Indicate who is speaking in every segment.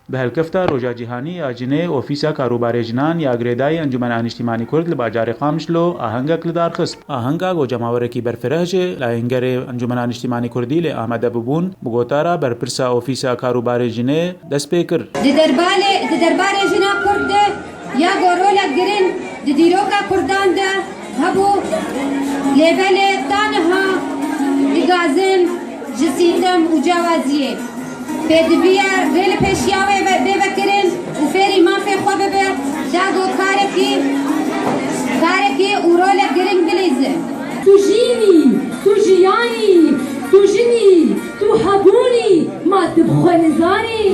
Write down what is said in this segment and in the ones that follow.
Speaker 1: Bi hevkefta Roja Cîhanî ya Jinê, Ofîsa Karûbarê Jinan ya girêdayî Encûmena Nîştîmanî Kurd li bajarê Qamişlo ahengek li dar xist. Ahenga ku cemawerekî berfireh ji layîngerê Encûmena Nîştîmanî Kurdî li Amedê bûbûn, bi gotara berpirsa Ofîsa Karûbarê Jinê, dest pê kir. Di derbarê di
Speaker 2: derbarê jina kurd de ya ku rolek giring di dîroka kurdan de hebû lê belê ta niha digazin ji sîtem û cewaziyê pêdiviya rê li pêşiya wê bê vekirin û fêrî mafê xwe bibe da ku karekî karekî û rolek giring bilîzin. Tu jîn
Speaker 3: î, tu jiyan î, tu jin î. Tu hebûnî ma tu bi xwe nizanî.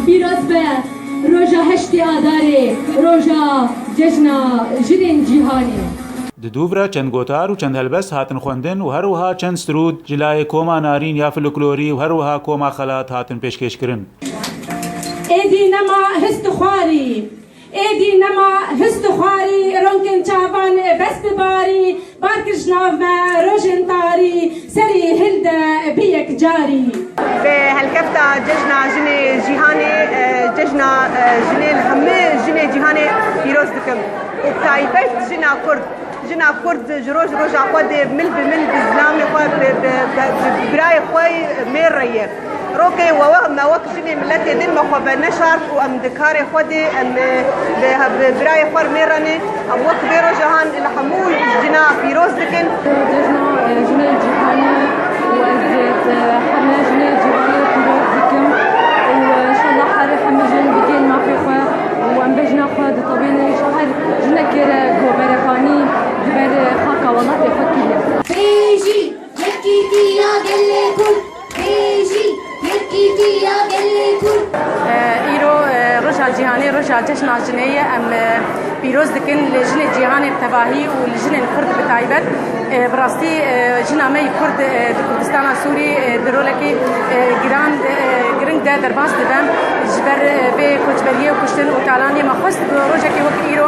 Speaker 3: Pîroz be roja heştê Adarê, roja cejna jinên cîhanê. Di dûvre
Speaker 1: çend gotar û çend helbest hatin xwendin û herwiha çend strûd ji layê koma Narîn ya Fluklorî û herwiha koma Xelat hatin pêşkêşkirin.
Speaker 3: Êdî nema hist û xwarî. Êdî nema hist û xwarî, ronkên çavan ê bes bi barî, bar kir ji nav me rojên tarî, serî hil de bi yekcarî. Bi helkefta
Speaker 4: Cejna Jinê Cîhanê Cejna Jinê li hemû jinê cîhanê pîroz dikim û bi taybet jina Kurd. Jina Kurd ji roj roja xwe dê mil bi mil bi zilamê xwe, bi birayê xwe mêr re ye. Rokê we wek me wek jinê miletê din me xwe be neşart û em di karê xwe dê em bi birayê xwe re mêrenê. Em wek vê rojahan li hemû jina pîroz dikin. Cejna
Speaker 3: jinê cîhanê û ez heme jinê cîhanê pîroz dikim û inşallah herî hemû jin bigihên mafê xwe û em be jina xwe ditewînin ji her jinekê re ku berevanî di ber xaka welatê xwe kiriye. Bêjî!
Speaker 2: Yekîtiya gelê Kurd bêjî, yekîtiya
Speaker 5: gelê Kurd. Îro Roja Cîhanê Roja Cejna Jinê ye. Em pîroz dikin li jinê cîhanê bi tevahî û li jinên Kurd bi taybet. Bi rastî jina me yê Kurd di Kurdistana Sûrî di rolekî giran giring de derbas dibe. Ji ber vê koçberiyê û kuştin û talaniyê me xwest ku rojekê wek îro